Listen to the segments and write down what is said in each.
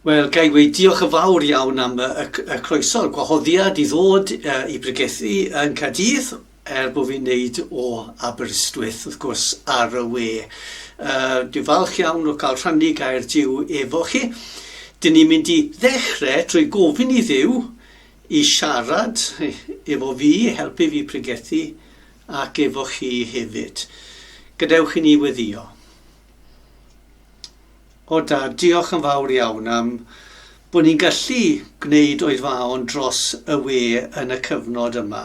Wel, ga i weud diolch yn fawr iawn am y, y, y croeso, y gwahoddiad i ddod uh, i bregethu yn Cadydd, er bod fi'n neud o Aberystwyth, wrth gwrs, ar y we. Uh, dwi'n falch iawn o cael rhannu gair diw efo chi. Dyn ni'n mynd i ddechrau trwy gofyn i ddiw I siarad efo fi, helpu fi pregethu, ac efo chi hefyd. Gadewch i ni weddio. O Dad, diolch yn fawr iawn am bod ni'n gallu gwneud oedfaon dros y we yn y cyfnod yma.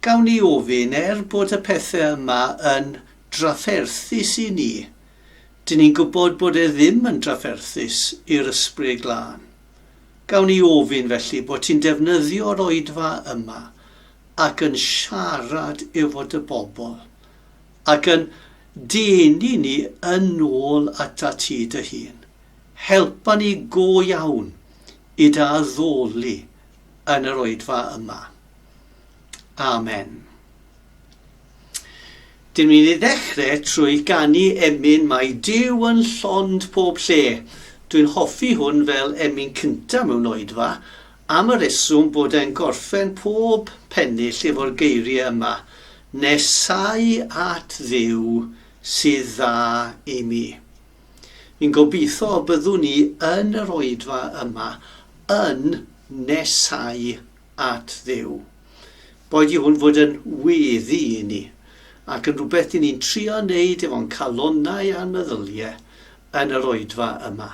Gawn ni ofyn, er bod y pethau yma yn drafferthus i ni, dyn ni'n gwybod bod e ddim yn drafferthus i'r Ysbryd Glân. Gawn ni ofyn felly bod ti'n defnyddio'r oedfa yma ac yn siarad efo dy bobl ac yn denu ni yn ôl ata ti dy hun. Helpa ni go iawn i dy addoli yn yr oedfa yma. Amen. Dyn ni'n ei ddechrau trwy ganu emyn Mae Duw yn llond pob lle. Dwi'n hoffi hwn fel emyn cynta mewn oedfa, am y reswm bod e'n gorffen pob pennill efo'r geiriau yma, Nesau at Dduw sydd dda i mi. Fi'n gobeithio y byddwn ni yn yr oedfa yma yn nesau at Dduw. Boed i hwn fod yn weddi i ni, ac yn rhywbeth i ni'n trio wneud efo'n calonnau a'n meddylie yn yr oedfa yma.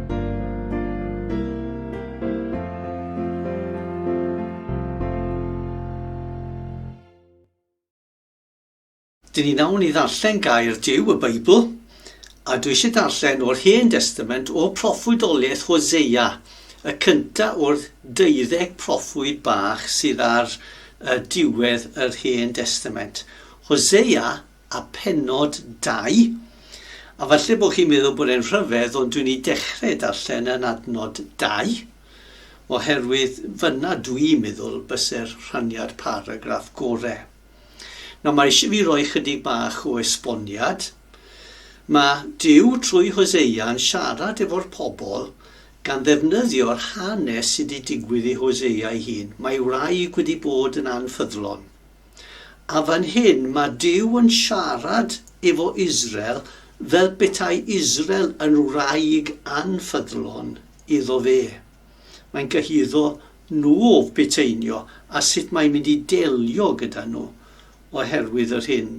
Dyn ni nawr i ddarllen gair Dyw y Beibl, a dwi eisiau darllen o'r Hen Destament o proffwydoliaeth Hosea, y cynta o'r deuddeg proffwyd bach sydd ar uh, diwedd yr Hen Destament. Hosea a pennod dau, a falle bod chi'n meddwl bod e'n rhyfedd ond dwi'n ei dechrau darllen yn adnod dau, oherwydd fyna dwi'n meddwl byse'r rhaniad paragraff gorau. Nawr mae eisiau fi roi chydig bach o esboniad. Mae Duw trwy Hosea yn siarad efo'r pobl gan ddefnyddio'r hanes sydd wedi digwydd i Hosea ei hun. Mae ei wraig wedi bod yn anffyddlon. A fan hyn mae Duw yn siarad efo Israel fel petai Israel yn wraig anffyddlon iddo fe. Mae'n cyhuddo nhw o feteinio a sut mae'n mynd i delio gyda nhw oherwydd yr hyn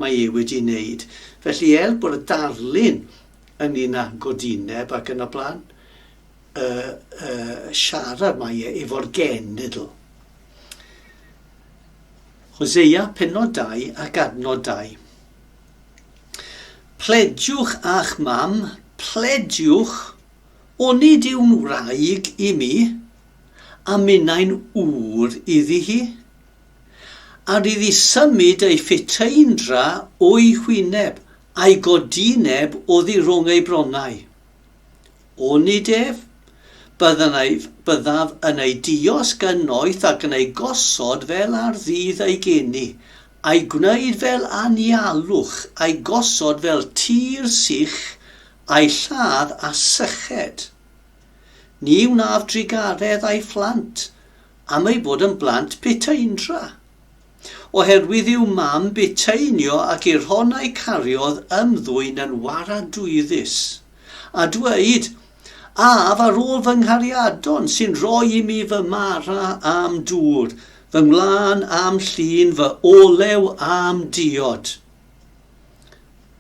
mae e wedi wneud. Felly er bod y darlun yn un â godineb ac yn y blaen, y, y siarad mae e efo'r genedl. Hosea penod 2 ac adnod 2. Plediwch a'ch mam, plediwch, onid yw'n wraig i mi, a minnau'n ŵr iddi hi? A rydd i symud ei ffiteindra o'i hwyneb, a'i godineb oddi rhwng ei bronnau. Onid ef? Byddaf, byddaf yn ei diosg yn noeth ac yn ei gosod fel ar ddydd ei geni, a'i gwneud fel anialwch, a'i gosod fel tir sych, a'i lladd â syched. Ni wnaf drugaredd a'i phlant, am eu bod yn blant piteindra. oherwydd i'w mam bitaenio ac i'r hon a'i cariodd ymddwyn yn waradwyddus, a dweud, Af ar ôl fy nghariadon sy'n rhoi i mi fy mara a'm dŵr, fy ngwlân a'm llun, fy olew a'm diod.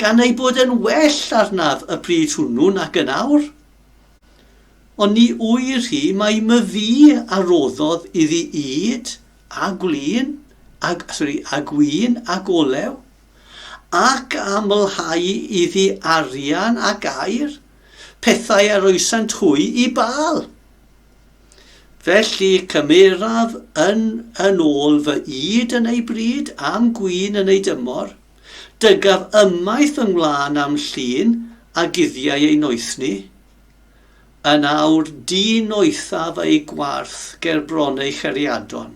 gan ei bod yn well arnaf y pryd hwnnw nac yn awr. Ond ni ŵyr hi mai myfi a roddodd iddi ŷd, a gwlyn, ag, sorry, a gwyn ac olew, ac a amlhau iddi arian ac air, pethau a roesant hwy i Baal. Felly cymeraf yn yn ôl fy ŷd yn ei bryd, a'm gwyn yn ei dymor, Dygaf ymaith fy ngwlân a'm llun a guddiau ei noethni. Yn awr du noethaf ei gwarth ger bron ei chariadon,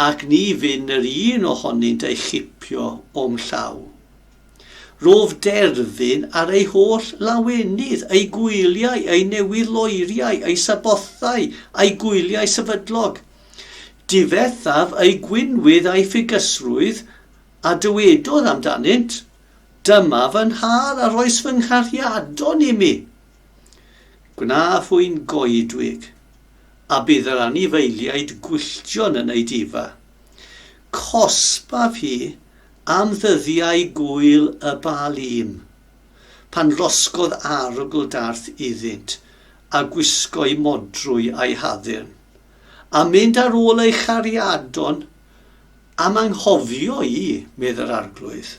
ac ni fyn yr un ohonynt ei chipio o'm llaw. Rof derfyn ar ei holl lawenydd, ei gwyliau, ei newydd-loeriau, ei sabothau, a'i gwyliau sefydlog, Difethaf ei gwinwydd a'i ffugysrwydd, a dywedodd amdanynt, Dyma fy nhad a roes fy nghariadon imi. Gwna hwy'n goedwig, a bydd yr anifeiliaid gwylltion yn ei difa. Cosbaf hi am ddyddiau gŵyl y Baalîm, pan losgodd arogl darth iddynt, a gwisgo'i modrwy a'i haddurn. a mynd ar ôl ei chariadon am anghofio i, medd yr Arglwydd.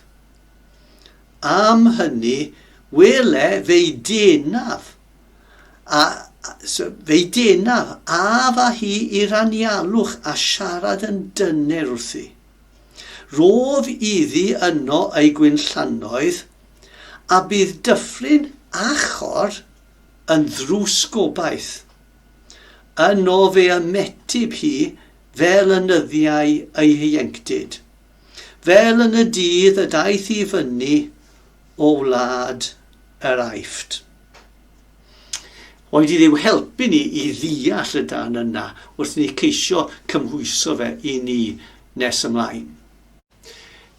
Am hynny, wele fe'i denaf, a, fe'i denaf, a fa hi i'r anialwch a siarad yn dyner wrthi. Rof iddi yno ei gwynllannoedd, a bydd dyffryn achor yn ddrws gobaith. Yno fe ymetib hi fel y nyddiau ei hieuenctid, fel yn y dydd y daeth i fyny o wlad yr Aifft. Oed i ddiw helpu ni i ddeall y dan yna wrth ni ceisio cymhwyso fe i ni nes ymlaen.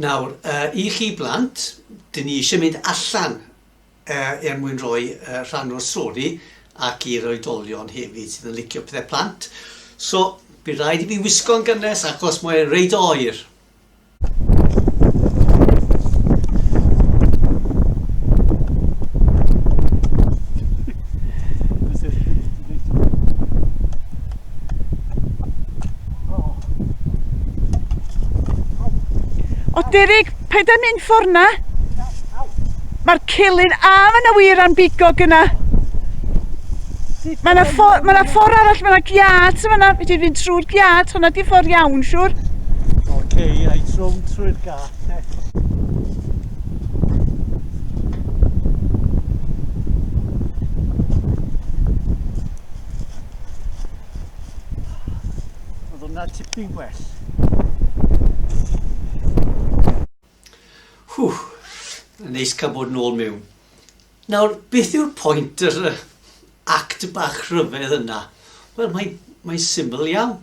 Nawr, uh, i chi blant, dyn ni eisiau mynd allan er mwyn rhoi rhan o'r stori ac i'r oedolion hefyd sydd yn licio pethau plant. So, bydd rhaid i fi wisgo'n gynnes achos mae'n reid oer. O, Derek, paid â mynd ffordd 'na. Mae'r celyn... A, mae yna wir am bigo gyna. Mae yna ffordd ma ffor arall, mae yna giad sy'n fanna. Fedri fynd trwy'r giad, hwnna di ffordd iawn, siwr. Oce, okay, i trwm trwy'r giad, te. Oedd hwnna tipyn gwell. Hww, yn neis cael bod yn ôl mewn. Nawr, beth yw'r pwynt yr act bach rhyfedd yna? Wel, mae'n mae syml iawn.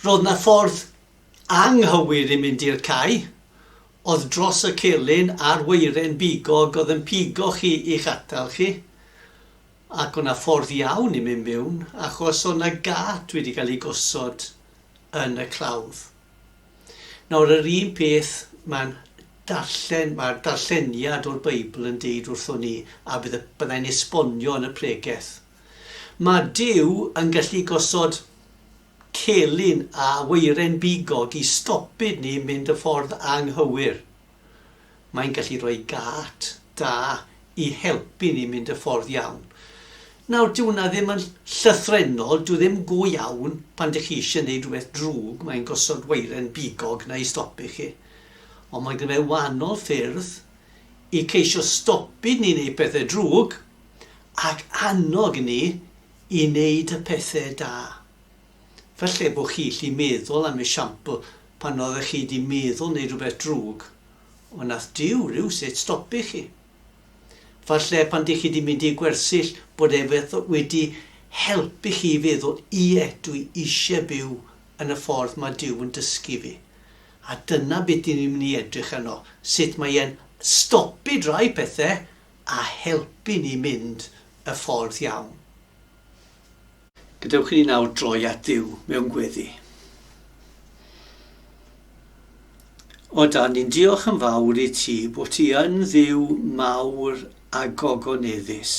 Roedd na ffordd anghywir i mynd i'r cae, oedd dros y celyn a'r weiren bigog oedd yn pigo chi i'ch atal chi. Ac o' 'na ffordd iawn i mynd miwn achos o' 'na gât wedi cael ei gosod yn y clawdd. Nawr yr un peth ma'n darllen, ma'r darlleniad o'r Beibl yn deud wrthon ni a bydd y, bydda i'n esbonio yn y pregeth. Ma' Duw yn gallu gosod celyn a weiren bigog i stopyd ni mynd y ffordd anghywir. Mae'n gallu rhoi gât da i helpu ni mynd y ffordd iawn. Nawr, dyw hwnna ddim yn llythrennol, dyw ddim go iawn pan dych chi eisiau gwneud rhywbeth drwg, mae'n gosod weiren bigog na i stopi chi. Ond mae gyda fe wahanol ffyrdd i ceisio stopi ni wneud pethau drwg ac annog ni i wneud y pethau da. Falle bo chi llu meddwl am esiampl pan oeddech chi di meddwl neud rhywbeth drwg, ond nath Duw rywsut stopi chi. Falle pan dych chi di mynd i gwersyll bod e wedi helpu chi i feddwl ie dw i isie byw yn y ffordd ma Duw yn dysgu fi. A dyna be dyn ni'n mynd i edrych arno, sut mae e'n stopi drai pethe a helpu ni mynd y ffordd iawn. Gadewch i ni nawr droi at Duw mewn gweddi. O dan, ni'n diolch yn fawr i ti bod ti yn ddiw mawr a gogoneddus.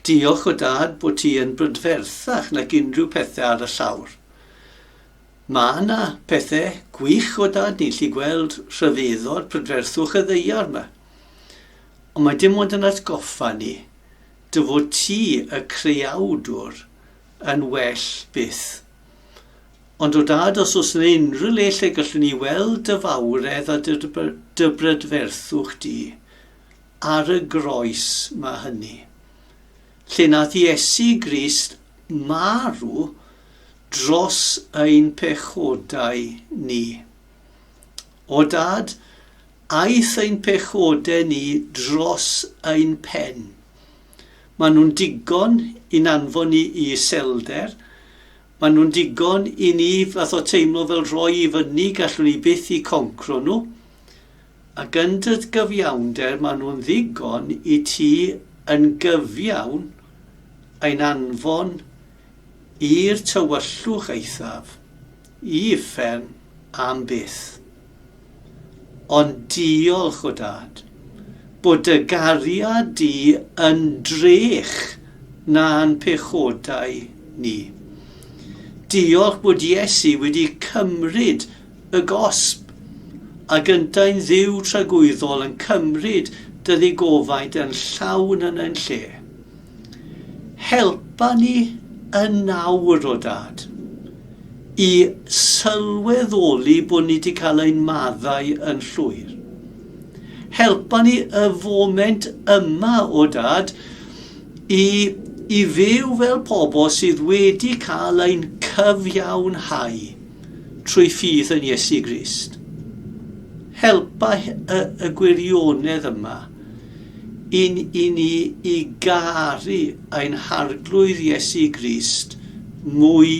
Diolch o dad bod ti yn brydferthach nag unrhyw pethau ar y llawr. Mae yna pethau gwych o dad ni'n lli gweld rhyfeddod prydferthwch y ddeiar yma. Ond mae dim ond yn atgoffa ni dy fod ti y creawdwr yn well byth. Ond o dad os oes yna unrhyw le lle gallwn ni weld dy fawredd a dy, dy brydferthwch di, ar y groes mae hynny. Lle nath Iesu Grist marw dros ein pechodau ni. O Dad, aeth ein pechodau ni dros ein pen. Maen nhw'n digon i'n anfon ni i iselder, maen nhw'n digon i ni fath o teimlo fel rhoi i fyny, gallwn ni byth i concro nhw. Ac yn dy gyfiawnder maen nhw'n ddigon i ti yn gyfiawn ein anfon i'r tywyllwch eithaf. Y fferm am byth. Ond diolch o Dad, bod dy gariad di yn drech na'n pechodau ni. Diolch bod Iesu wedi cymryd y gosb, a gyntau'n Dduw tragwyddol yn cymryd dy ddigofaint yn llawn yn ein lle. Helpa ni yn nawr, o Dad, i sylweddoli bod ni wedi cael ein maddau yn llwyr. Helpa ni y foment yma, o Dad, i, i fyw fel pobl sydd wedi cael ein cyfiawnhau trwy ffydd yn Iesu Grist. Helpa y, y gwirionedd yma. Yn i ni i garu ein Harglwydd Iesu Grist mwy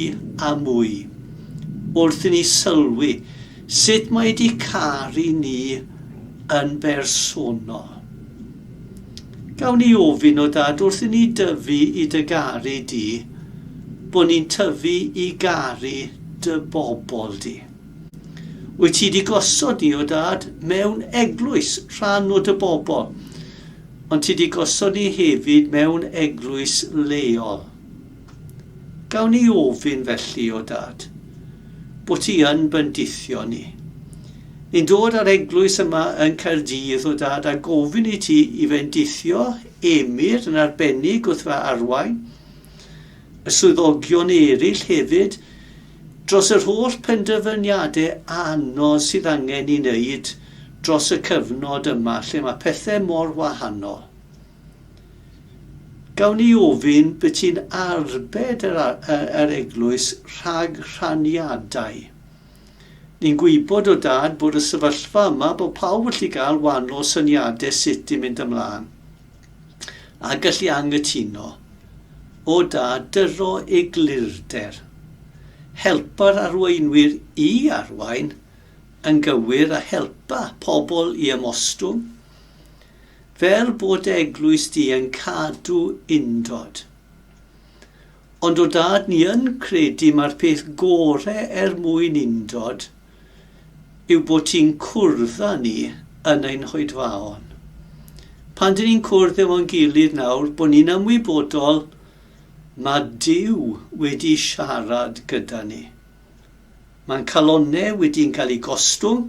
a mwy, wrth i ni sylwi sut mae di caru ni yn bersonol. Gawn ni ofyn o Dad wrth i ni dyfu i dy garu di, bod ni'n tyfu i garu dy bobl di. Wyt ti di gosod ni o dad mewn eglwys rhan o dy bobl, ond ti di gosod ni hefyd mewn eglwys leol. Gawn ni ofyn felly o dad, bod ti yn bendithio ni. Ni'n dod ar eglwys yma yn Caerdydd o dad a gofyn i ti i fendithio Emyr yn arbennig wrth fy arwain, y swyddogion eraill hefyd, Dros yr holl penderfyniadau anodd sydd angen i wneud dros y cyfnod yma lle mae pethau mor wahanol, gawn i ofyn beth sy'n arbed yr, yr eglwys rhag rhaniadau? Ni'n gwybod o dad bod y sefyllfa yma bod pawb yn gallu cael wahanol syniadau sut i mynd ymlaen. a gallu anghytuno o da dyro eglurder, helpa'r arweinwyr i arwain yn gywir a helpa pobl i ymostwng, fel bod dy eglwys di yn cadw undod. Ond o dad ni yn credu mae'r peth gore er mwyn undod, yw bod ti'n cwrdd â ni yn ein hoedfaon. Pan dyn ni'n cwrdd efo'n gilydd nawr, bod ni'n ymwybodol mae Dyw wedi siarad gyda ni. Mae'n calonnau wedi'n cael ei gostwng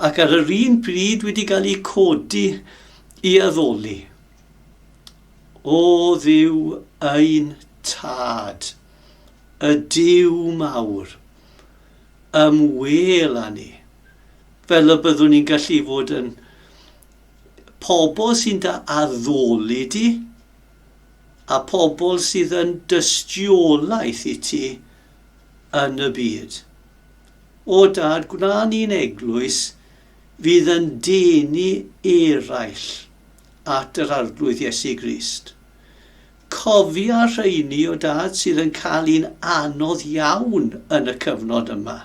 ac ar yr un pryd wedi cael ei codi i addoli. O ddiw ein tad, y diw mawr, Ym wheel a ni. Fel y byddwn ni'n gallu fod yn pobl sy'n da addoli di a pobl sydd yn dystiolaeth i ti yn y byd. O dad, gwna ni'n eglwys fydd yn denu eraill at yr Arglwydd Iesu Grist. Cofia rheini o dad sydd yn cael un anodd iawn yn y cyfnod yma.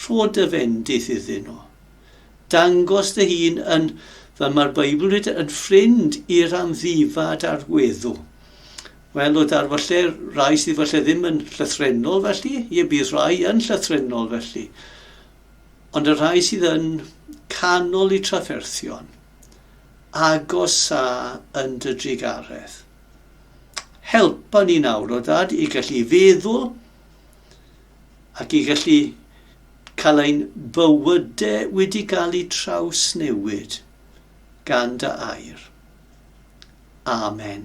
Rho dy fendith iddyn nhw. Dangos dy hun yn, fel mae'r Beibl yn dweud, yn ffrind i'r amddifad a'r weddw. Wel, o dad, falle rai sydd falle ddim yn llythrenol felly, ie, bydd rhai yn llythrenol felly. Ond y rhai sydd yn canol i trafferthion, Agosa yn dy drugaredd. Helpa ni nawr, o Dad, i gallu feddwl ac i gallu cael ein bywydau wedi cael eu trawsnewid gan dy air. Amen.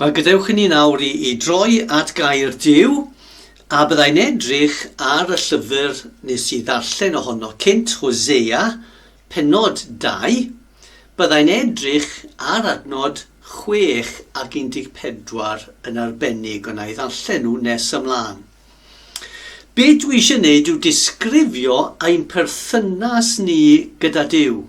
Wel, gadewch i ni nawr i, i droi at gair Dyw, a byddai'n edrych ar y llyfr nes i ddarllen ohono cynt, Hosea, penod 2, byddai'n edrych ar adnod 6 ac 14 yn arbennig, ond na i ddarllen nhw nes ymlaen. Be dwi eisiau gwneud yw disgrifio ein perthynas ni gyda Dyw.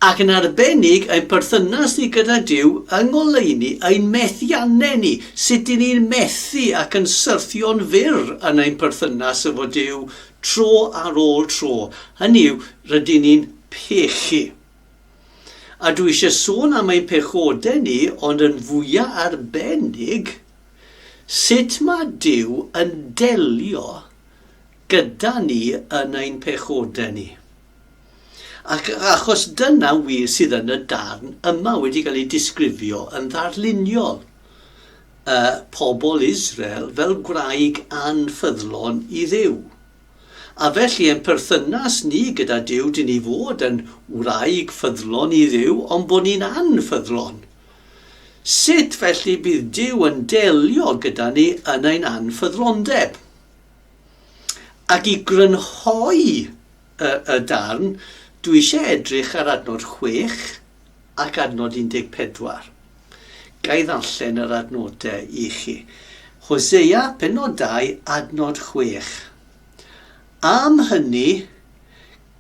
ac yn arbennig ein perthynas ni gyda Duw yng ngoleuni ein methiannau ni, sut i ni'n methu ac yn syrthio'n fyr yn ein perthynas efo Duw tro ar ôl tro, hynny yw, rydyn ni'n pechu. A dwi eisiau sôn am ein pechodau ni, ond yn fwya arbennig, sut mae Duw yn delio gyda ni yn ein pechodau ni. Ac achos dyna wir sydd yn y darn yma wedi cael ei disgrifio yn ddarluniol, y pobl Israel fel gwraig anffyddlon i Dduw. A felly ein perthynas ni gyda Duw dyn ni fod yn wraig ffyddlon i Dduw ond bod ni'n anffyddlon. Sut felly bydd Duw yn delio gyda ni yn ein anffyddlondeb? Ac i grynhoi y y darn, dwi eisiau edrych ar adnod 6 ac adnod 14. Ga i ddarllen yr adnodau i chi? Hosea, pennod 2, adnod 6. Am hynny,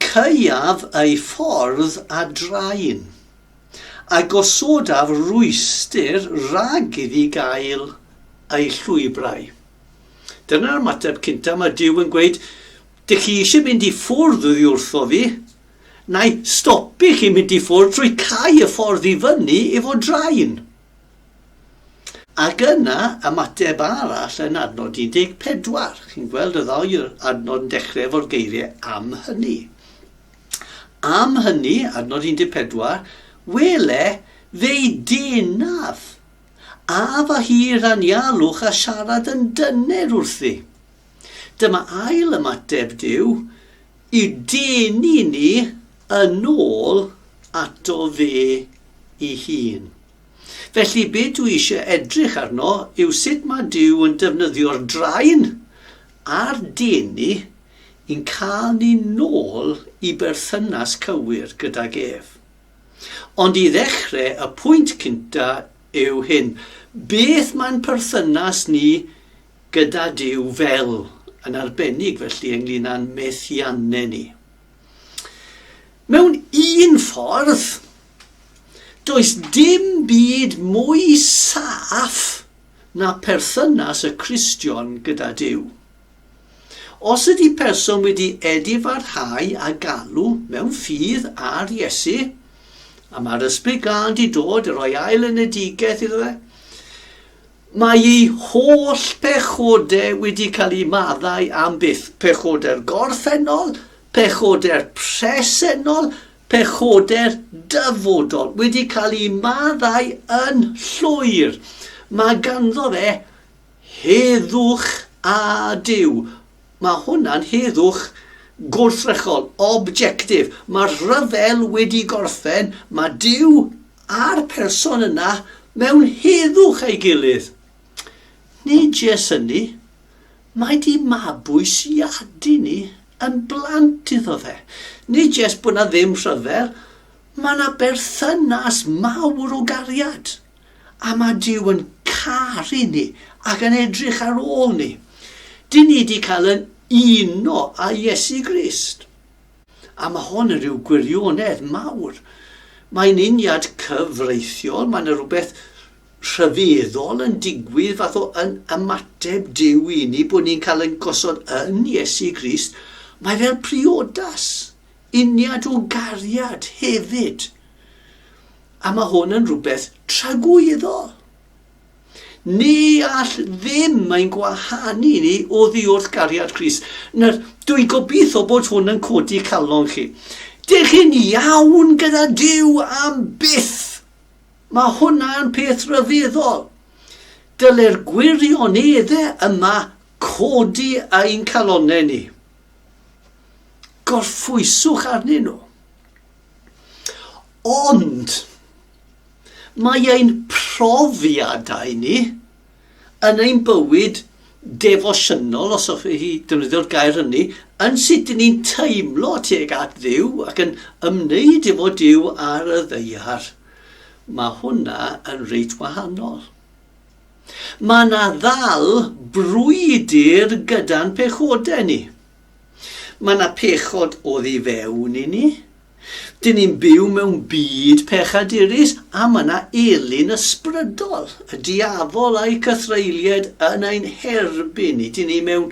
caeaf ei ffordd a drain, a gosodaf rwystr rhag iddi gael ei llwybrau. Dyna'r ymateb cynta, mae Dyw yn gweud, dych chi eisiau mynd i ffwrdd oddi wrtho fi, na'i stopi chi mynd i ffwrdd trwy cau y ffordd i fyny efo drain. Ac yna, ymateb arall yn adnod 14. Chi'n gweld y ddau adnod yn dechrau efo'r geiriau am hynny. Am hynny, adnod 14, wele, fe'i denaf A fy hir anialwch a siarad yn dyner wrthi. Dyma ail ymateb Duw, Y dyn i ni yn ôl ato fe i hun. Felly be dwi eisiau edrych arno yw sut mae Duw yn defnyddio'r draen a'r deni i'n cael ni nôl i berthynas cywir gydag ef. Ond i ddechrau, y pwynt cynta yw hyn, beth mae'n perthynas ni gyda Duw fel, yn arbennig felly ynglyn â'n methiannau ni? Mewn un ffordd, does dim byd mwy saff na perthynas y Cristion gyda Duw. Os ydy person wedi edifarhau a galw mewn ffydd ar Iesu, a mae'r ysbryd glân di dod i roi ail enedigaeth iddo fe, mae ei holl pechodau wedi cael eu maddau am byth, pechodau'r gorffennol, pechodau'r presennol, pechodau'r dyfodol, wedi cael eu maddau yn llwyr. Mae ganddo fe Heddwch a Duw! Mae hwnna'n heddwch gwrthrychol, objectif. Mae'r rhyfel wedi gorffen, mae Duw a'r person yna mewn heddwch ei gilydd. Nid jes hynny, mae di mabwysiadu ni yn blant iddo fe. Nid jes bod na ddim rhyfel, mae na berthynas mawr o gariad. A mae Duw yn caru ni ac yn edrych ar ôl ni. Dyn ni wedi cael yn uno â Iesu Grist. A mae hon yn rhyw gwirionedd mawr. Mae'n uniad cyfreithiol, mae yna rhywbeth rhyfeddol yn digwydd fath o yn ymateb Duw i ni bod ni'n cael yn gosod yn Iesu Grist. Mae fel priodas, uniad o gariad hefyd. A mae hwn yn rhywbeth tragwyddol. Ni all ddim mae'n gwahanu ni o ddiwrth gariad Cris. Nawr, dwi'n gobeithio bod hwn yn codi calon chi. Dych chi'n iawn gyda Dyw am byth. Mae hwnna'n peth rhyfeddol. Dyle'r gwirioneddau yma codi ein calonau ni. Gorffwyswch arnyn nhw. Ond, mae ein profiadau ni yn ein bywyd defosiynol, os hoffech chi ddefnyddio'r gair hynny, yn sut dyn ni'n teimlo tuag at ddiw ac yn ymwneud efo diw ar y ddeiar. Mae hwnna yn reit wahanol. Mae yna ddal brwydr gyda'n pechodau ni. Mae yna pechod oddi fewn i ni. Dyn ni'n byw mewn byd pechadurus a mae yna elyn ysbrydol, y diafol a'i cythreilied yn ein herbyn ni. Dyn ni mewn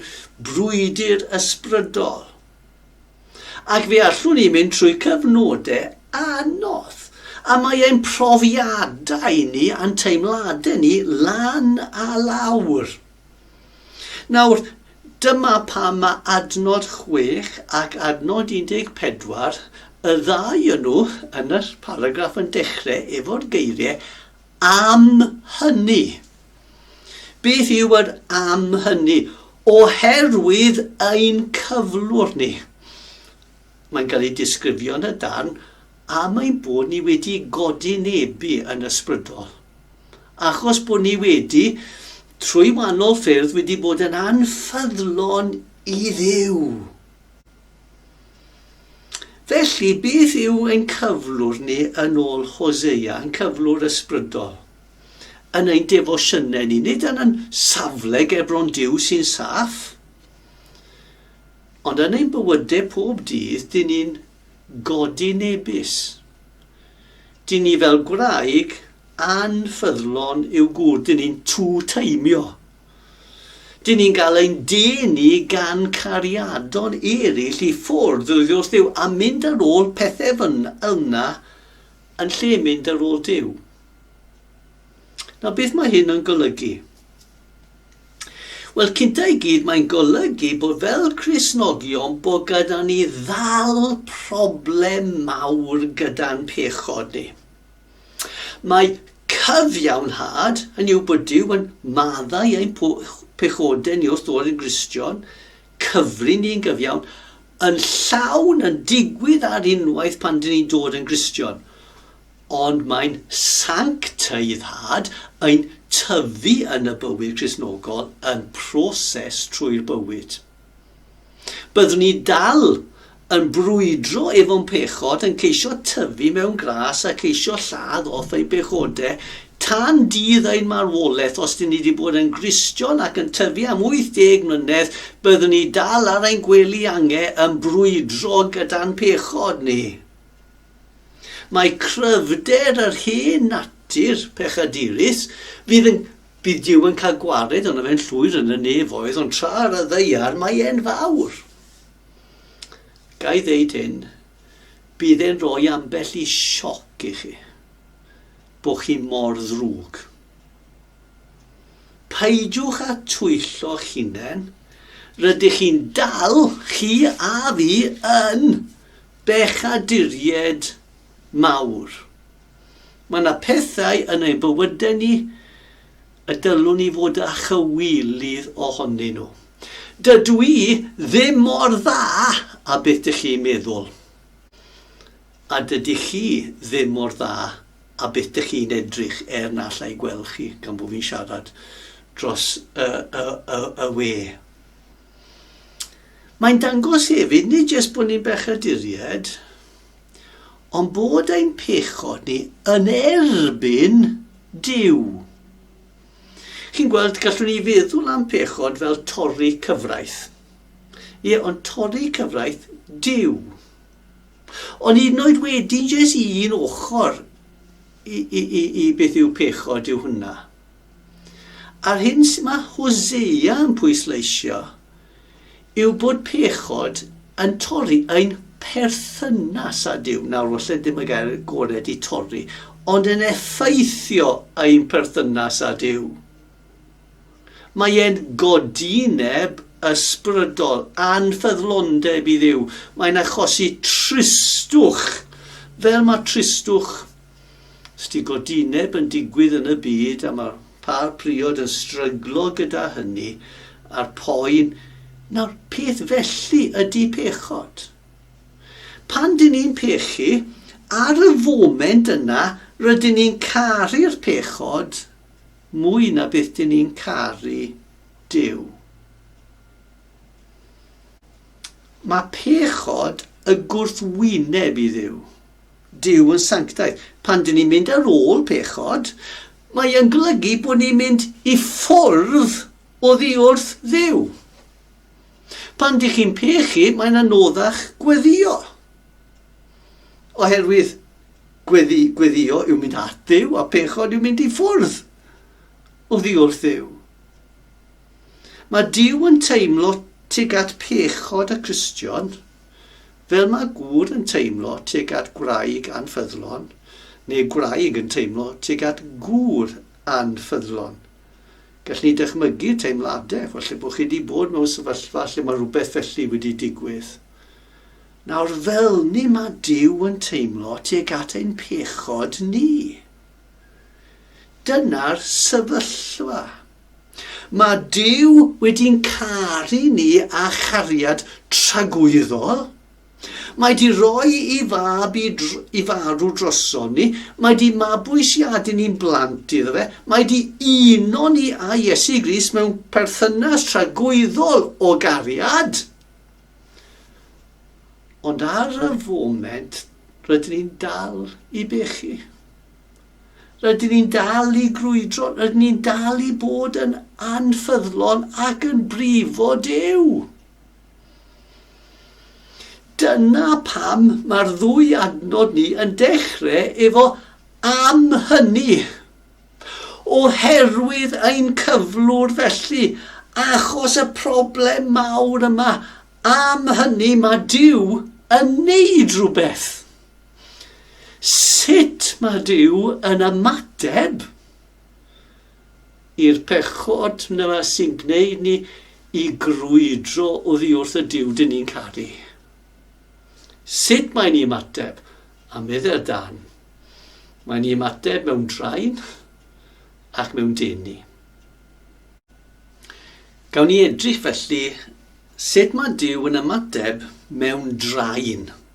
brwydr ysbrydol. Ac fe allwn ni mynd trwy cyfnodau anodd, a mae ein profiadau ni a'n teimladau ni lan a lawr. Nawr, dyma pam mae adnod 6 ac adnod 14, y ddau yn nhw yn y paragraff yn dechrau efo'r geiriau am hynny. Beth yw yr am hynny? Oherwydd ein cyflwr ni. Mae'n cael ei disgrifio yn y darn am ein bod ni wedi godi nebu yn ysbrydol. achos bod ni wedi, trwy wahanol ffyrdd, wedi bod yn anffyddlon i ddiw. Felly, beth yw ein cyflwr ni yn ôl Hosea, yn cyflwr ysbrydol? Yn ein defosiynau ni, nid yn yn safle gebron diw sy'n saff, ond yn ein bywydau pob dydd, dyn ni'n godyn ebys. Dyn ni fel gwraig anffyddlon yw gŵr, dyn ni'n two-taimio. Dyn ni'n gael ein denu gan cariadon eraill i ffwrdd oddi wrth Dduw a mynd ar ôl pethau fyn yna yn lle mynd ar ôl Duw. Nawr, beth mae hyn yn golygu? Wel, cynta i gyd, mae'n golygu bod fel Cresnogion bod gyda ni ddal problem mawr gyda'n pechod ni. Mae cyfiawnhad, hynny yw bod Dyw yn maddau ein pechodau ni wrth ddod yn Gristion, cyfri ni'n gyfiawn, yn llawn yn digwydd ar unwaith pan dyn ni'n dod yn Gristion. Ond mae'n sancteiddhad yn tyfu yn y bywyd Cristnogol yn proses trwy'r bywyd. Byddwn ni dal yn brwydro efo'n pechod, yn ceisio tyfu mewn gras a ceisio lladd off ein pechodau tan dydd ein marwolaeth. Os dyn ni wedi bod yn Gristion ac yn tyfu am 80 mlynedd, byddwn ni dal ar ein gwely angau yn brwydro gyda'n pechod ni. Mae cryfder yr hen natur pechadurus, bydd, yn, bydd Duw yn cael gwared ond fe'n llwyr yn y nefoedd, ond tra ar y ddeiar mae e'n fawr. Gai ddeud hyn, bydd e'n rhoi ambell i sioc i chi, bod chi mor ddrwg. Peidiwch â twyllo'ch hunain, rydych chi'n dal, chi a fi, yn Bechaduriaid mawr. Mae yna pethau yn ein bywydau ni y dylwn ni fod â chywilydd ohonyn nhw. Dydw i ddim mor dda â beth dych chi'n meddwl, a dydy chi ddim mor dda â beth dych chi'n edrych er na alla i gweld chi gan bod fi'n siarad dros y, y, y, y we. Mae'n dangos hefyd nid jyst bod ni'n bechaduriaid, ond bod ein pechod ni yn erbyn Dyw. Chi'n gweld, gallwn ni feddwl am pechod fel torri cyfraith. Ie, ond torri cyfraith Dyw. Ond hyd yn oed wedyn, jyst un ochr i, i, i, i beth yw pechod yw hwnna. A'r hyn sydd mae Hosea yn pwysleisio yw bod pechod yn torri ein perthynas â Duw. Nawr, falle ddim y gair gored i torri, ond yn effeithio ein perthynas â Duw. Mae e'n godi neb ysbrydol, anffyddlondeb i ddiw. Mae'n achosi tristwch, fel mae tristwch Stigodineb yn digwydd yn y byd a mae'r pâr priod yn stryglo gyda hynny a'r poen. Nawr, peth felly ydy pechod. Pan dyn ni'n pechu, ar y foment yna, rydyn ni'n caru'r pechod mwy na beth dyn ni'n caru Duw. Mae pechod y gwrthwyneb i Dduw. Duw yn sanctaidd. Pan dyn ni'n mynd ar ôl pechod, mae yn golygu bod ni'n mynd i ffwrdd oddi wrth dduw. Pan dych chi'n pechu, mae'n anoddach gweddio. Oherwydd gweddi, gweddio yw mynd at dduw a pechod yw mynd i ffwrdd oddi wrth dduw. Mae Dyw yn teimlo tuag at pechod y Cristion Fel mae gŵr yn teimlo tuag at gwraig anffyddlon, neu gwraig yn teimlo tuag at gŵr anffyddlon. Gallwn ni ddychmygu'r teimladau, falle bod chi wedi bod mewn sefyllfa lle mae rhywbeth felly wedi digwydd. Nawr, fel ni mae Duw yn teimlo tuag at ein pechod ni. Dyna'r sefyllfa. Mae Duw wedi'n caru ni â chariad tragwyddol. Mae 'di roi i fab i, i farw droson ni. Mae 'di mabwysiadu ni'n blant iddo fe. Mae 'di uno ni â Iesu Gris mewn perthynas tragwyddol o gariad. Ond ar y foment, rydyn ni'n dal i bechu. Rydyn ni'n dal i grwydro, rydyn ni'n dal i bod yn anffyddlon ac yn brifo Duw. Dyna pam mae'r ddwy adnod ni yn dechrau efo am hynny. Oherwydd ein cyflwr felly, achos y problem mawr yma, am hynny mae Duw yn neud rhywbeth. Sut mae Duw yn ymateb i'r pechod yna sy'n gwneud ni i grwydro oddi wrth y Duw dyn ni'n caru? Sut mae'n ni ymateb? A meddwl dan. Mae'n ni ymateb mewn draen ac mewn denu. Gawn ni edrych felly sut mae Duw yn ymateb mewn draen.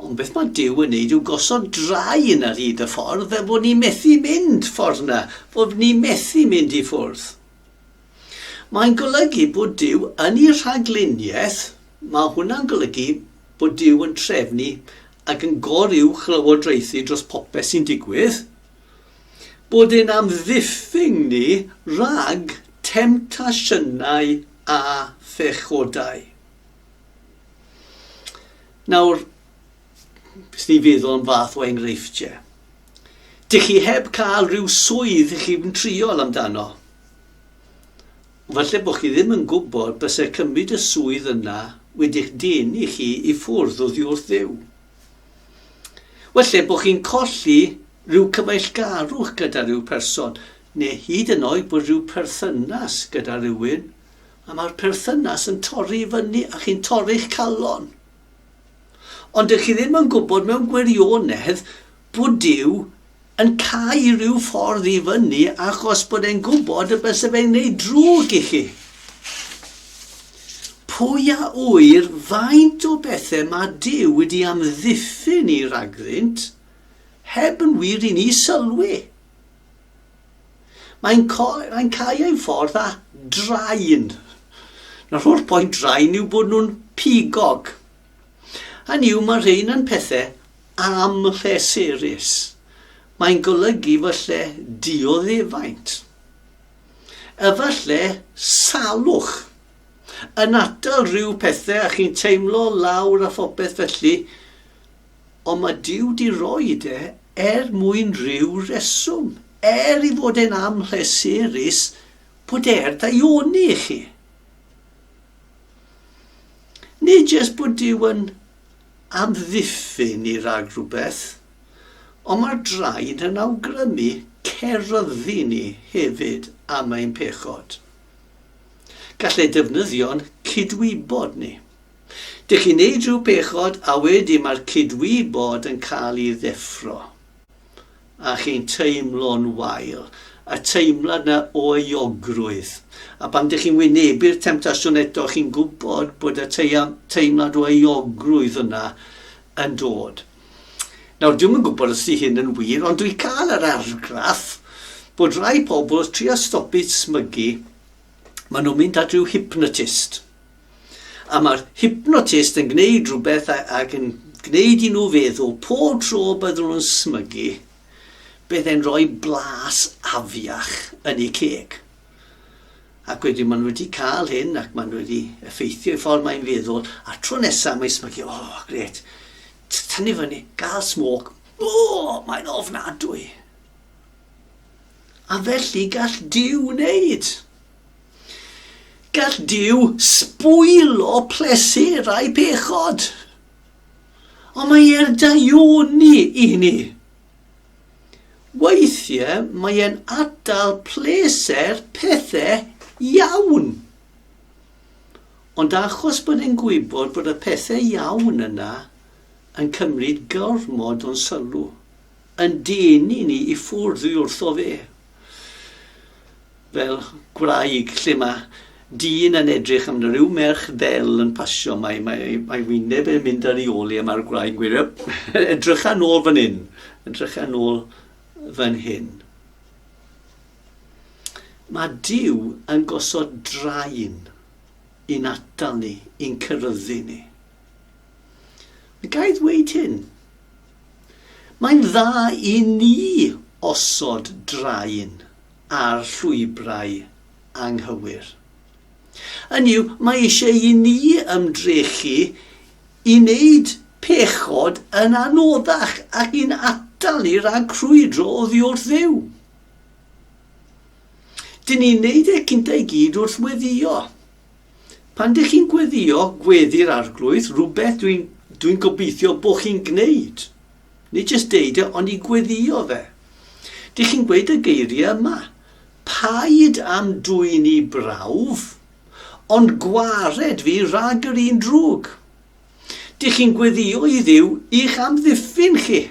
Ond beth mae Duw yn neud yw gosod draen ar hyd y ffordd fel bod ni methu mynd ffordd na, bod ni methu mynd i ffwrdd. Mae'n golygu bod Duw yn ei rhagluniaeth, mae hwnna'n golygu bod Duw yn trefnu ac yn goruwch lywodraethu dros popeth sy'n digwydd, bod e'n amddiffyn ni rhag temtasiynau a phechodau. Nawr, jyst i feddwl am fath o enghreifftiau. Dych chi heb cael rhyw swydd i chi'n triol amdano. Falle bod chi ddim yn gwybod bysau cymryd y swydd yna wedi'ch denu chi i ffwrdd oddi wrth ddew. Falle bod chi'n colli rhyw cyfeillgarwch gyda rhyw person, neu hyd yn oed bod rhyw perthynas gyda rhywun, A mae'r perthynas yn torri i fyny a chi'n torri'ch calon. Ond dych chi ddim yn gwybod mewn gwirionedd bod Duw yn cau rhyw ffordd i fyny achos bod e'n gwybod y byse fe'n gwneud drwg i chi. Pwy a ŵyr faint o bethau mae Duw wedi amddiffyn ni ragddynt heb yn wir i ni sylwi. Mae'n mae'n cau ei ffordd â drain. Nawr holl pwynt drain yw bod nhw'n pigog. Hynny yw mae rhain yn pethau amhleserus. Mae'n golygu fy lle dioddefaint. Efallai salwch. Yn atal rhyw pethau a chi'n teimlo lawr a phopeth felly, Ond mae Duw 'di roid e er mwyn rhyw reswm, er i fod e'n amhleserus bod e er daioni i chi. Nid jyst bod Duw yn amddiffyn i rag rhywbeth, ond mae'r draed yn awgrymu ceryddu ni hefyd am ein pechod. Gall e ddefnyddio'n cydwybod ni. Dych chi'n neud rhyw bechod a wedyn mae'r cydwybod yn cael ei ddeffro. A chi'n teimlo'n wael. Y teimlad 'na o euogrwydd. A pan dych chi'n wynebu'r temtasiwn eto, chi'n gwybod bod y teimlad o euogrwydd yna yn dod. Nawr, dwi'm yn gwybod os di hyn yn wir, ond dwi'n cael yr argraff bod rhai pobl wrth trio stopio smygu, maen nhw'n mynd at ryw hypnotist. A mae'r hypnotist yn gwneud rhywbeth ac yn gwneud i nhw feddwl pob tro byddwn nhw'n smygu, bydd e'n rhoi blas afiach yn eu ceg. Ac wedyn maen nhw wedi cael hyn ac maen nhw wedi effeithio i ffordd mae'n feddwl, a tro nesaf mae'n smygu, o, oh, gret, tynnu fyny, gael smog, o, oh, mae'n ofnadwy. A felly gall Duw wneud. Gall Duw sbwylo pleserau pechod. Ond mae e'r daioni i hynny. Weithiau mae e'n atal pleser pethau iawn. Ond achos bod e'n gwybod bod y pethau iawn yna yn cymryd gormod o'n sylw, Yn dyn i ni i ffwrdd dwi wrtho fe. Fel gwraig lle mae dyn yn edrych am rhyw merch ddel yn pasio, mae, mae, mae wyneb yn mynd ar ei ôl i a mae'r gwraig yn gweud, edrycha nôl fan hyn, edrycha nôl fan hyn. Mae Dyw yn gosod draen i'n atal ni, i'n cyrryddu ni. Mae ga'i ddweud hyn. Mae'n dda i ni osod drain ar llwybrau anghywir. Hynny yw, mae eisiau i ni ymdrechu i wneud pechod yn anoddach ac i'n atal ni rhag crwydro oddi wrth Dduw. Dyn ni'n wneud e cyntaf i gyd wrth weddio. Pan dych chi'n gweddio gweddi'r Arglwydd, rhywbeth dwi'n dwi gobeithio bod chi'n gwneud. Nid jyst deud e, ond i gweddio fe. Dych chi'n gweud y geiriau yma. Paid am dwy'n i brawf, ond gwared fi rhag yr un drwg. Dych chi'n gweddio i ddiw i'ch amddiffyn chi.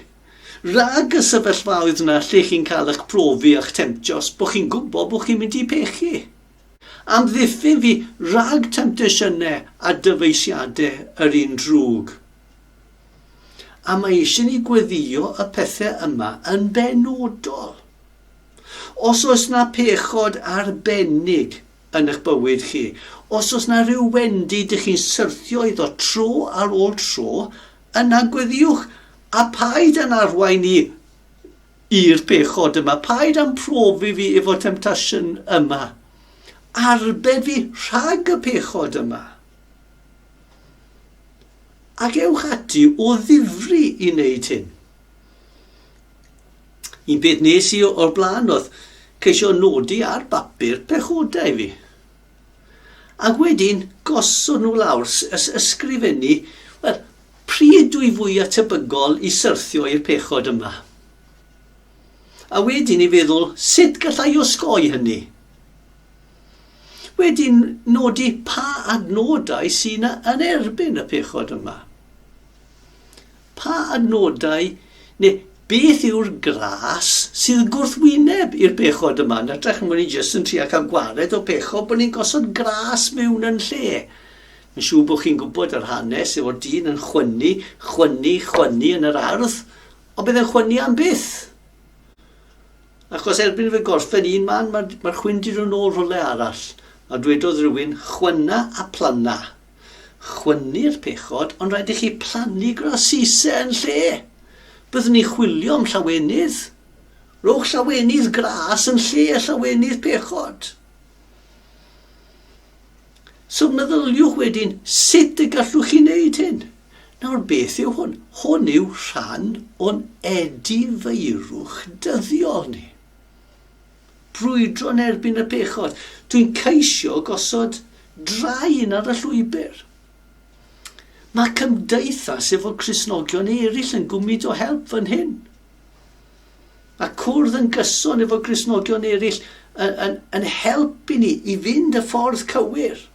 Rhag y sefyllfaoedd yna lle chi'n cael eich profi a'ch temtio os bod chi'n gwybod bod chi'n mynd i pechu. Amddiffyn fi rhag temtasiynau a dyfeisiadau yr un drwg. A mae eisiau ni gweddïo y pethau yma yn benodol. Os oes na pechod arbennig yn eich bywyd chi, os oes na rhyw wendi dych chi'n syrthio iddo tro ar ôl tro, yna gweddiwch, a paid â'n arwain i I'r pechod yma, paid â'm profi fi efo temptasiwn yma. Arbed fi rhag y pechod yma. Ac ewch ati o ddifri i wneud hyn. Un peth nes i o'r blaen oedd ceisio nodi ar bapur pechodau fi. Ac wedyn gosod nhw lawr, ysgrifennu, wel, pryd dwi fwya tebygol i syrthio i'r pechod yma? A wedyn i feddwl, sut galla i osgoi hynny? Wedyn nodi pa adnodau sy'n yn erbyn y pechod yma. Pa nodau neu beth yw'r glas sydd gwrthwyneb i'r pechod yma? Yn hytrach na bod ni jyst yn trio cael gwared o pechod, bod ni'n gosod glas mewn yn lle. Mae'n siŵr bod chi'n gwybod yr hanes o'r dyn yn chwynnu, chwynnu, chwynnu yn yr ardd, ond bydd yn chwynnu am byth. Achos erbyn fe gorffen un man, mae'r mae chwyn dyn nhw'n ôl rhywle arall. A dwedodd rhywun, chwynna a planna. Chwynnu'r pechod, ond rhaid i chi plannu grasise yn lle. Byddwn ni'n chwilio am llawenydd. Rhowch llawenydd gras yn lle llawenydd pechod. So meddyliwch wedyn, sut y gallwch chi wneud hyn? Nawr, beth yw hwn? Hwn yw rhan o'n edifeirwch dyddiol ni. brwydro yn erbyn y pechod. Dwi'n ceisio gosod draen ar y llwybr. Mae cymdeithas efo Crisnogion eraill yn gwmyd o help fan hyn. Mae cwrdd yn gyson efo Crisnogion eraill yn, yn, yn helpu ni i fynd y ffordd cywir.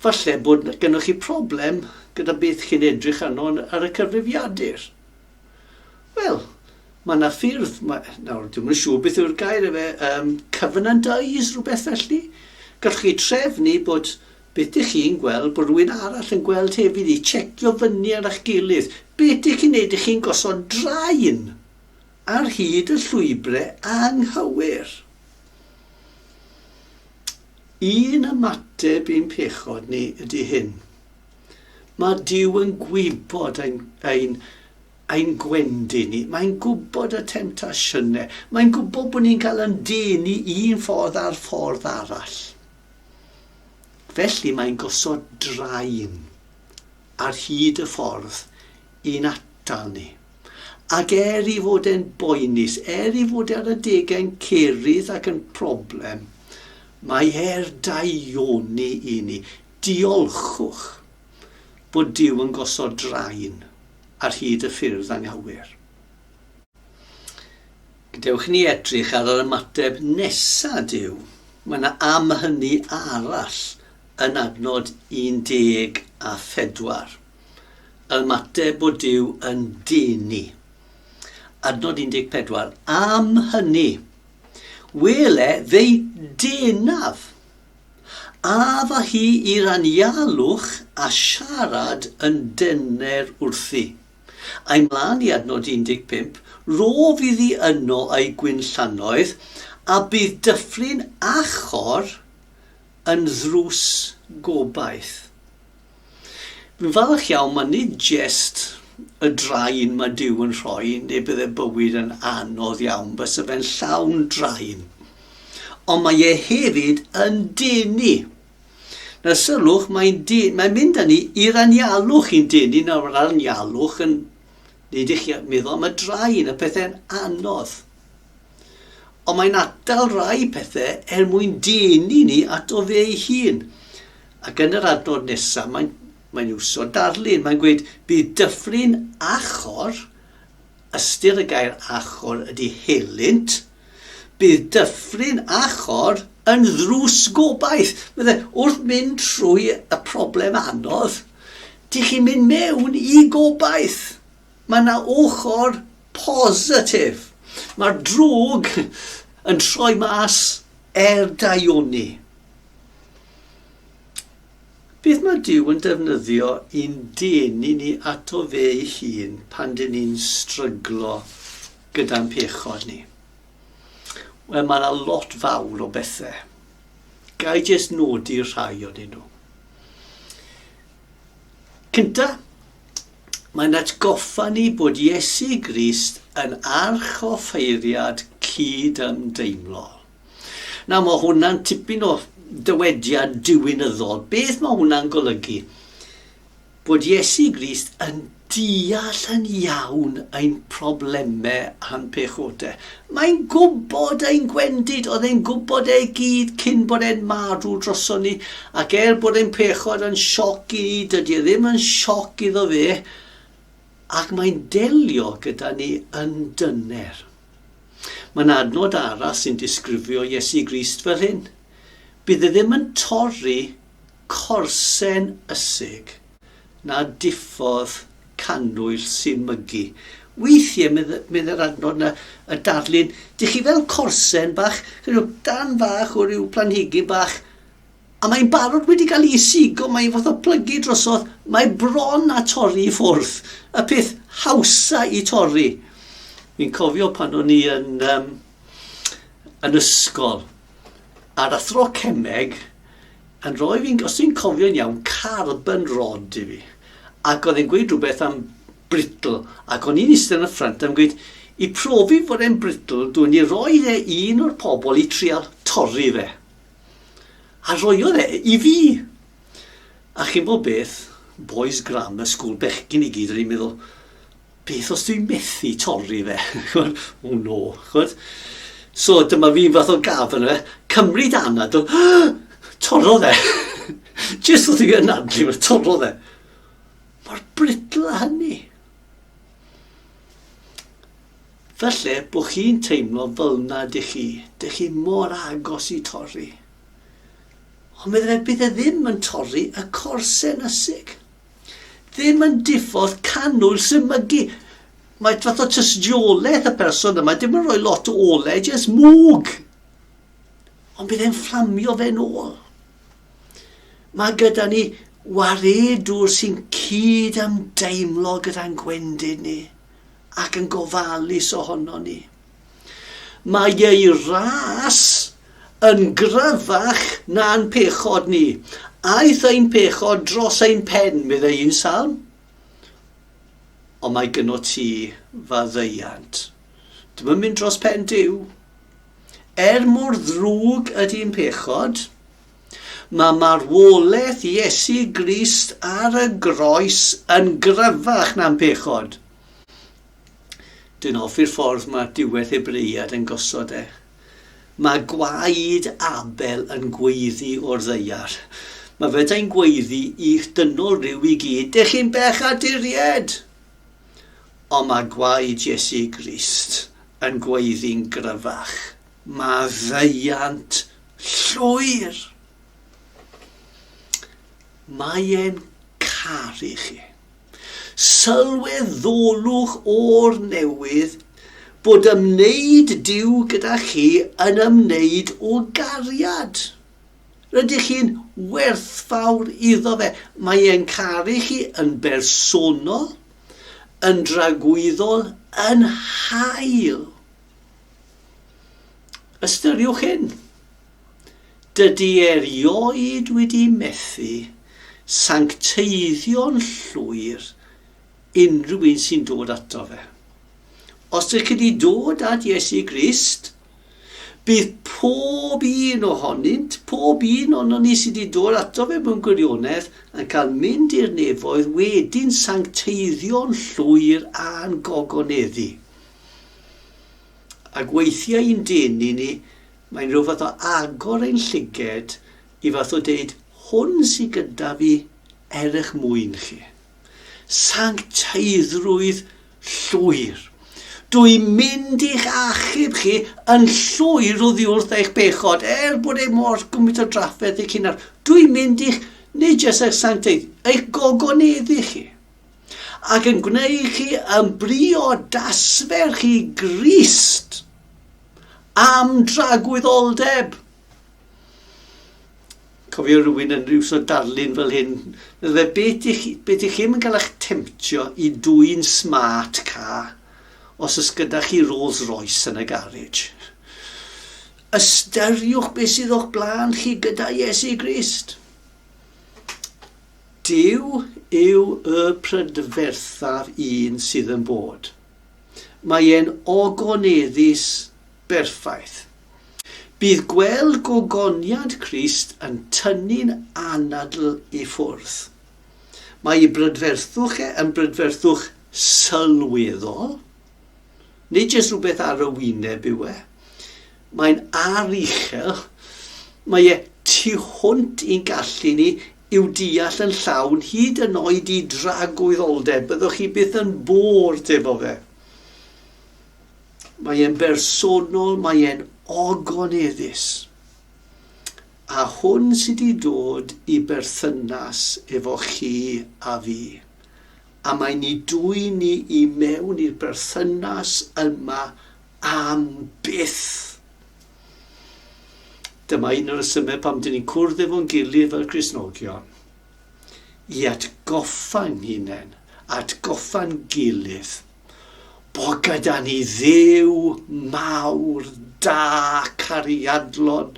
Falle bod gennych chi problem gyda beth chi'n edrych arno ar y cyfrifiadur. Wel, mae yna ffyrdd, mae, nawr, dwi'n yn siŵr beth yw'r gair efe, um, covenant eyes, rhywbeth felly. Gallwch chi trefnu bod beth ydych chi'n gweld, bod rhywun arall yn gweld hefyd i checio fyny ar eich gilydd. Beth ydych chi'n neud, ydych chi'n gosod draen ar hyd y llwybrau anghywir. Un ymateb i'n pechod ni ydy hyn. Mae Duw yn gwybod ein, ein, ein gwendid ni. Mae'n gwybod y temtasiynau. Mae'n gwybod bod ni'n cael yn dyn i un ffordd a'r ffordd arall. Felly mae'n gosod draen ar hyd y ffordd i'n atal ni. Ac er i fod e'n boenus, er i fod ar y degau'n cerydd ac yn problem, mae er daioni i ni. Diolchwch bod Duw yn gosod drain ar hyd y ffyrdd anghywir. Gadewch i ni edrych ar yr ymateb nesa Duw. Mae yna am hynny arall yn adnod 14. Yr ymateb bod Duw yn denu. Adnod 14. Am hynny, wele fe'i denaf. Af â hi i'r anialwch a siarad yn dyner wrthi. Ai mlaen i adnod 15, Rof iddi yno ei gwinllannoedd, a bydd Dyffryn Achor yn ddrws gobaith. Fi'n falch iawn, mae nid jest y drain mae Dyw yn rhoi, neu bydde bywyd yn anodd iawn, bysa fe'n llawn drain. Ond mae e hefyd yn denu. Na sylwch, mae'n mae mynd â ni i'r anialwch i'n denu, nawr mae'r anialwch yn neud i chi meddwl am y drain, y pethau'n anodd. Ond mae'n atal rai pethau er mwyn denu ni ato fe ei hun. Ac yn yr adnod nesaf, mae'n, mae'n iwso darlun. Mae'n gweud, bydd dyffryn achor, ystyr y gair achor ydy helynt, bydd dyffryn achor yn ddrws gobaith. Bydde, wrth mynd trwy y problem anodd, dych chi'n mynd mewn i gobaith. Mae yna ochr positif. Mae'r drwg yn troi mas Er daioni. Beth mae Duw yn defnyddio i'n denu ni ato fe ei hun pan dyn ni'n stryglo gyda'n pechod ni? Wel, mae yna lot fawr o bethau. Gai jyst nodi rhai o'n nhw. Cynta, Mae'n atgoffa ni bod Iesu Grist yn arch o ffeiriad cyd-ymdeimlo. Na, mae hwnna'n tipyn o dywediad diwinyddol. Beth mae hwnna'n golygu? Bod Iesu Grist yn deall yn iawn ein problemau a'n pechodau. Mae'n gwybod ein gwendid, oedd e'n gwybod ei gyd cyn bod e'n marw droson ni, ac er bod e'n pechod yn sioc i ni, dydy e ddim yn sioc iddo fe, ac mae'n delio gyda ni yn dyner. Mae'n adnod arall sy'n disgrifio Iesu Grist fel hyn. Bydd e ddim yn torri Corsen ysig na diffodd cannwyll sy'n mygu. Weithiau, medd yr adnod na y darlun, dych chi fel corsen bach, rhyw dan fach o ryw planhigyn bach, a mae'n barod wedi cael ei sigo, mae'n fath o plygu drosodd, mae bron a torri i ffwrdd, y peth hawsa i torri. Fi'n cofio pan o'n i yn, um, yn ysgol, ar athro cemeg, Yn rhoi fi'n, os dwi'n cofio'n iawn, carbon rod i fi. Ac oedd e'n gweud rhywbeth am brittle, ac o'n i'n eistedd yn y ffrynt a'n gweud, i profi fod e'n brittle, dwi'n i roi e i un o'r pobl i trial torri fe. A roiodd e i fi. A chi'n bod beth, boys grammar school, bechgyn i gyd, o'n i'n meddwl, beth os dwi'n methu torri fe? Chod, oh no, chod. So dyma fi'n fath o gaf yna, cymryd anad o, torro fe. Just wrth i fi anadlu fe, torro fe. Mae'r britl a hynny. Felly, bod chi'n teimlo fel na dych chi, dych chi mor agos i torri. Ond meddwl fe, bydd e ddim yn torri y corsen ysig. ddim yn diffodd canwyll sy'n mygu. Mae fath o tystiolaeth y person yma, dim yn rhoi lot o ole, jyst mwg. Ond bydd e'n fflamio fe'n ôl. Mae gyda ni waredwr sy'n cyd am deimlo gyda'n gwendid ni ac yn gofalus ohono ni. Mae ei ras yn gryfach na'n pechod ni. Aeth ein pechod dros ein pen, meddai un salm. Ond mae gyno ti faddeuant. Dim yn mynd dros pen Dyw. Er mor ddrwg ydy'n pechod, mae marwolaeth Iesu Grist ar y groes yn gryfach na'n pechod. Dwi'n hoffi'r ffordd mae diwedd Hebreiad yn gosod e. Mae gwaed Abel yn gweiddi o'r ddeiar. Mae fedai'n gweiddi i'ch dynol rhyw i gyd, dych chi'n bech a diried! Ond mae gwaed Jesu Grist yn gweiddi'n gryfach. Mae ddeiant llwyr! Mae e'n caru chi. Sylweddolwch o'r newydd bod ymwneud Duw gyda chi yn ymwneud o gariad. Rydych chi'n werthfawr iddo fe. Mae e'n caru chi yn bersonol, yn dragwyddol, yn hael. Ystyriwch hyn. Dydy erioed wedi methu sancteiddio'n llwyr unrhyw un sy'n dod ato fe. Os ydych chi wedi dod at Iesu Grist, bydd pob un ohonynt, pob un o'n ni sydd wedi dod ato fe mewn gwirionedd, yn cael mynd i'r nefoedd wedyn sancteiddio'n llwyr a'n gogoneddu. Ac weithiau i'n denu ni Mae'n rhyw fath o agor ein llyged i fath o deud, hwn sy gyda fi er eich mwyn chi. Sancteiddrwydd llwyr. Dw i'n mynd i'ch achub chi yn llwyr oddi wrth eich bechod, er bod e mor gymaint o drafferth eich hunan. Dw i'n mynd i'ch, nid jyst eich sancteidd, eich gogoneddu chi ac yn gwneud chi yn briodas fer chi Grist. am dragwyddoldeb. Cofio rhywun yn rhyw so darlun fel hyn, meddwl fe beth i chi, beth i chi yn cael eich temtio i dwy'n smart car os ys gyda chi Rolls Royce yn y garage. Ystyriwch beth sydd o'ch blaen chi gyda Iesu Grist. Dyw yw y prydferthaf un sydd yn bod. Mae e'n ogoneddus berffaith. Bydd gweld gogoniant Crist yn tynnu'n anadl i ffwrdd. Mae ei brydferthwch e yn brydferthwch sylweddol. Nid jyst rhywbeth ar y wyneb yw e. Mae'n aruchel. Mae e tu hwnt i'n gallu ni i'w deall yn llawn, hyd yn oed i dragwyddoldeb, byddwch chi byth yn bored efo fe. Mae e'n bersonol, mae e'n ogoneddus. A hwn sydd wedi dod i berthynas efo chi a fi. A mae ni dwy ni i mewn i'r berthynas yma am byth. Dyma un o'r rhesymau pam dyn ni'n cwrdd efo'n gilydd fel Cristnogion. I atgoffa'n hunain, atgoffa'n gilydd, bo gyda ni ddew mawr, da, cariadlon,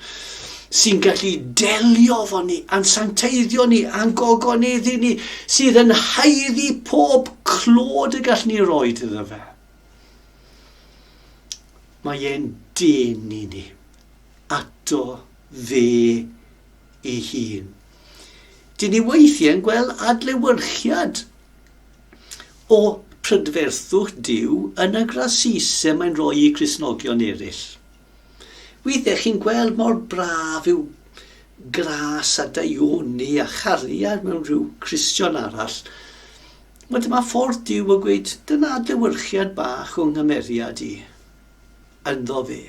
sy'n gallu delio fo ni, a'n sancteiddio ni, a'n gogoneddu ni, sydd yn haeddu pob clod y gall ni roi iddo fe. Mae e'n dyn i ni, ato fe ei hun. Dyn ni weithiau'n gweld adlewyrchiad o prydferthwch Duw yn y grasise mae'n rhoi i Gristnogion eraill. Wydde chi'n gweld mor braf yw gras a daioni a chariad mewn rhyw Cristion arall. Wel, dyma ffordd Duw o gweud, dyna adlewyrchiad bach o nghymeriad i, ynddo fe.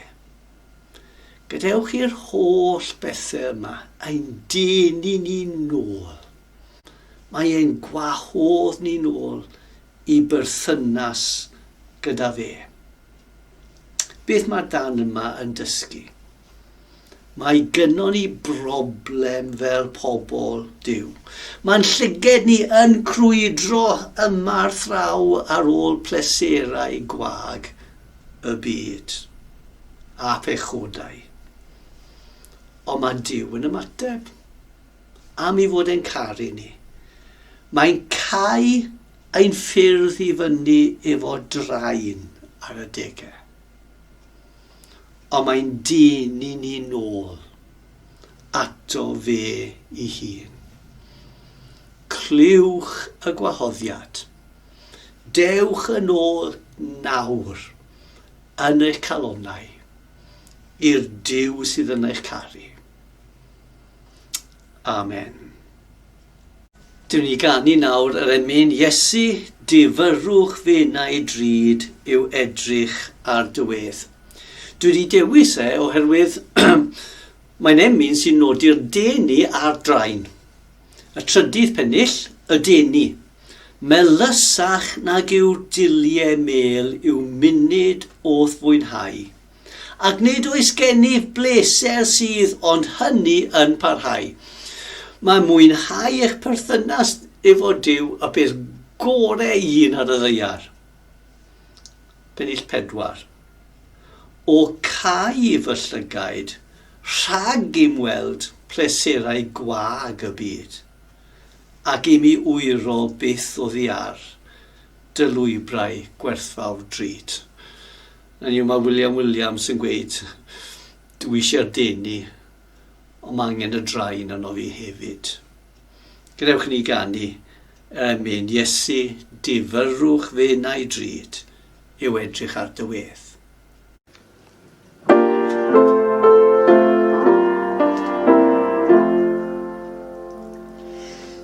Gadewch i'r holl bethau yma ein denu ni'n nôl. Mae e'n gwahodd ni'n ôl i berthynas gyda fe. Beth mae'r dan yma yn dysgu? Mae gynnon ni broblem fel pobl Dyw. Mae'n llyged ni yn crwydro yma'r thraw ar ôl pleserau gwag y byd a phechodau. Ond mae Dyw yn ymateb am i fod e'n caru ni. Mae'n cau Ein ffyrdd i fyny efo drain ar adege. Ond mae'n dyn i ni nôl ato fe i hun. Clywch y gwahoddiad. Dewch yn ôl nawr yn eich calonau i'r Duw sydd yn eich caru. Amen. Dw ni ganu nawr yr emyn, Iesu, dy fyrwch fe na'i drud yw edrych ar dy wedd. Dw i wedi dewis e oherwydd mae'n emyn sy'n nodi'r deni a'r drain. Y trydydd pennill, y deni. Melysach nag yw dulliau mêl yw munud o'th fwynhau. ac nid oes gennyf bleser sydd ond hynny yn parhau. Mae mwynhau eich perthynas efo Dyw y peth gorau i un ar y ddeiar. Pennill 4. O cau fy llygaid, rhag i'm weld pleserau gwag y byd, ac i mi wyro byth o ddiar dy lwybrau gwerthfawr drud. Hynny yw, mae William Williams yn gweud, dwi eisiau'r deni, ond mae angen y drain yno fi hefyd. Gwnewch ni ganu er mwyn Iesu, difyrrwch fe na'i drud yw edrych ar dy wedd.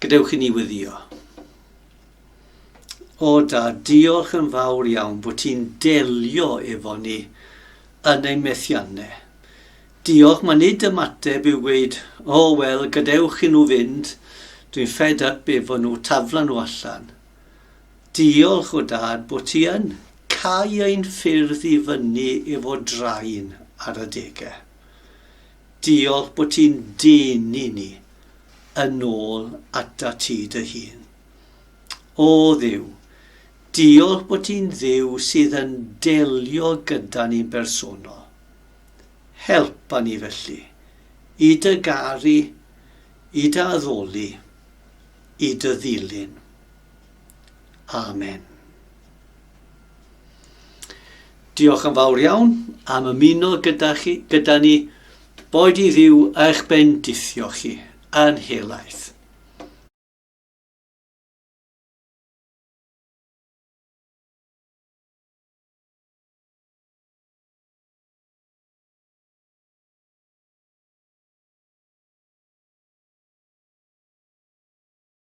Gadewch i ni weddio. O da, diolch yn fawr iawn bod ti'n delio efo ni yn ein methiannau. Diolch, mae nid ymateb yw gweud, o oh, wel, gadewch i nhw fynd, dwi'n fed up efo nhw, tafla nhw allan. Diolch o dad bod ti yn cau ein ffyrdd i fyny efo draen ar adegau. Diolch bod ti'n denu ni yn ôl ata ti dy hun. O Dduw, diolch bod ti'n Dduw sydd yn delio gyda ni'n bersonol. Helpa ni felly i dy garu, i dy addoli, i dy ddilyn. Amen. Diolch yn fawr iawn am ymuno gyda, chi, gyda ni. Boed i ddiw eich bendithio chi yn helaeth.